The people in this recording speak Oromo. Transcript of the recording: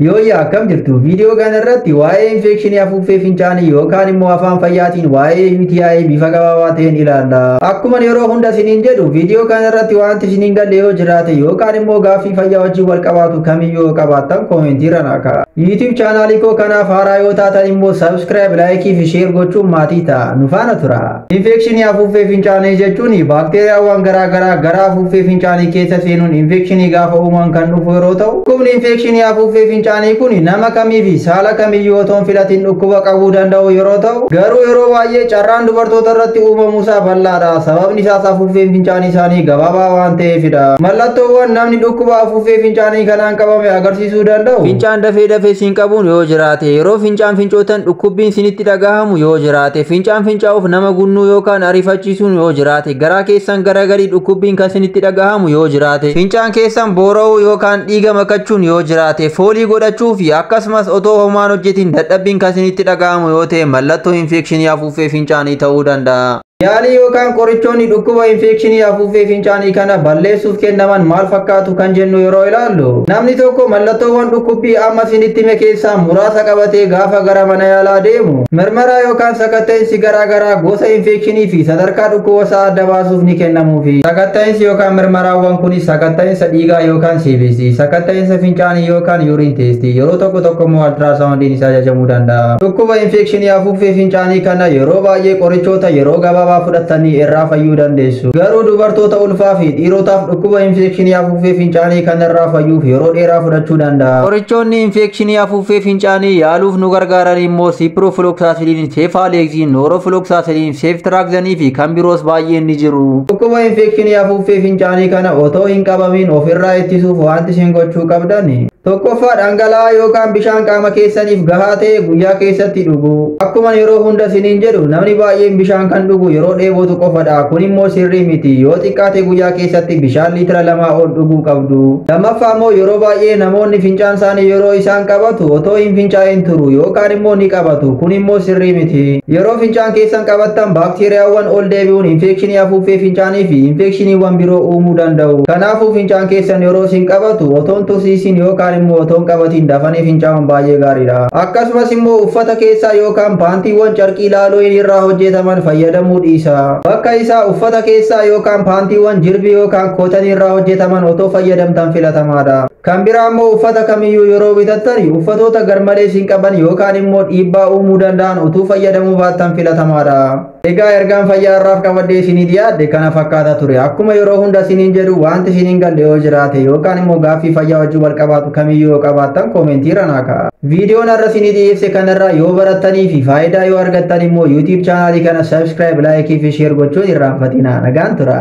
Yooyyaa akkam jirtu viidiyoo kana irratti waa'ee infekshinii afuuffee fincaanii yookaan immoo afaan fayyaatiin waa'ee UTI bifa gabaabaa ta'een ilaalla. Akkuma yeroo hunda isiniin jedhu viidiyoo kana irratti wanti isiniin galle yoo jiraate yookaan immoo gaaffii fayyaa wajjin wal qabaatu kamiyyuu yoo qabaattan koomentiirra naa ka'a. YouTube chaanaalii koo kanaaf haaraa yoo taatan immoo subscribe, like fi share gochuun maatii ta'a. Nu faana tura. Infeekshinii afuuffee fincaanii jechuun baakteeriyaawwan garaa garaa gara afuuffee fincaanii keessa seenuun infeekshinii gaafa uuman kan dhufu yeroo ta'u, dhukkubni infeekshinii afuuffee fincaanii kun nama kamii fi saala kamiyyuu otoo hin filatin dhukkuba qabuu danda'u yeroo ta'u, garuu yeroo baay'ee carraan dubartoota irratti uumamuu isaa bal'aa dha. Sababni isaas afuuffeen fincaanii isaanii gabaabaa waan ta'eef dha. Mallattoowwan namni dhukkuba afuuffee fincaanii kanaan qabame agarsiisu. fayyisuu danda'u? Fincaan dafee dafee siin qabuun yoo jiraate, yeroo fincaan fincootan dhukkubbiin sinitti dhagahamu yoo jiraate, fincaan fincaa'uuf nama gunnuu yookaan ariifachiisuun yoo jiraate, garaa keessan gara gadii dhukkubbiin kan sinitti dhagahamu yoo jiraate, fincaan keessan boora'uu yookaan dhiiga makachuun yoo jiraate, foolii godhachuu fi akkasumas otoo homaan hojjetiin dadhabbiin kan sinitti dhagahamu yoo ta'e mallattoo infeekshinii afuuffee fincaanii ta'uu danda'a. Yaalii yookaan qorichoonni dhukkuba infeekshinii afuuffee fincaanii kana balleessuuf kennaman maal fakkaatu kan jennu yeroo ilaallu, namni tokko mallattoowwan dhukkubbii amma isinitti hime keessaa muraasa qabatee gaafa gara mana yaalaa deemu, mirmaraa yookaan sakatta'insi garaa garaa gosa infeekshinii fi sadarkaa dhukkuba isaa adda baasuuf ni kennamuufi. Sakatta'insi yookaan mirmaraawwan kunis sakatta'insa dhiigaa yookaan CBC, sakatta'insa fincaanii yookaan urine test, yeroo tokko tokko immoo altiraasaawundiin isaa ajajamuu danda'a. Dhukkuba infeekshinii afuuffee fincaanii kana yeroo baay'ee qorichoota yeroo gabaabaa fudhattanii irraa fayyuu dandeessu. Garuu dubartoota ulfaa fi dhiirotaaf dhukkuba infeekshinii afuuffee fincaanii kana irraa fayyuuf yeroo dheeraa fudhachuu danda'a. Qorichoonni infeekshinii afuuffee fincaanii yaaluuf nu gargaaran immoo siipiroofilooksaasilin, seefaaleeksiin, nooroofilooksaasilin, seeftiraakzanii fi kan biroos baay'een ni jiru. Dhukkuba infeekshinii afuuffee fincaanii kana otoo hin qabamin of irraa ittisuuf wanti isin gochuu qabdan. Tokkoffaa dhangala'aa yookaan bishaan qaama keessaniif gahaa ta'e guyyaa keessatti dhuguu. Akkuma yeroo hunda siniin jedhu namni baay'een bishaan kan dhugu yeroo dheebotu qofadha. Kun immoo sirrii miti. Yoo xiqqaate guyyaa keessatti bishaan liitira lamaa ol dhuguu qabdu. Lammaffaa immoo yeroo baay'ee namoonni fincaan isaanii yeroo isaan qabatu otoo hin fincaa'in turu yookaan immoo ni qabatu. Kun immoo sirrii miti. Yeroo fincaan keessan qabattan baakteeriyaawwan ol deebi'uun infeekshinii afuuffee fincaanii fi infeekshiniiwwan biroo uumuu danda'u. Kanaafuu fincaan keessan yeroo isin qabatu Otoon tursiisiin yookaan immoo otoon qabatiin dafanii fincaa'uun baay'ee gaariidha. Akkasumas immoo uffata keessaa yookaan paantiiwwan carqii laalooyin irraa hojjetaman fayyadamuu dhiisa. Bakka isaa uffata keessaa yookaan paantiiwwan jirbii yookaan kootanii irraa hojjetaman otoo fayyadamtan filatamaadha. Kan biraa immoo uffata kamiyyuu yeroo bitattani uffatoota garmalee isin qaban yookaan immoo dhiibbaa uumuu danda'an utuu fayyadamuu baattan filatamaadha. Egaa ergaan fayyaa har'aaf qabadhee isinii dhiyaadhe kana fakkaata ture. Akkuma yeroo hunda isiniin jedhu wanti isiniin galle yoo jiraate yookaan immoo gaaffii fayyaa wajjin wal qabaatu kamiyyuu yoo qabaattan koomentii irra naa ka'a. Viidiyoon har'a isinii dhiyeesse kanarraa yoo barattanii fi faayidaa yoo argattan immoo YouTube chaanaalii kana subscribe, like fi share gochuun irraanfatinaa. Nagaan tura.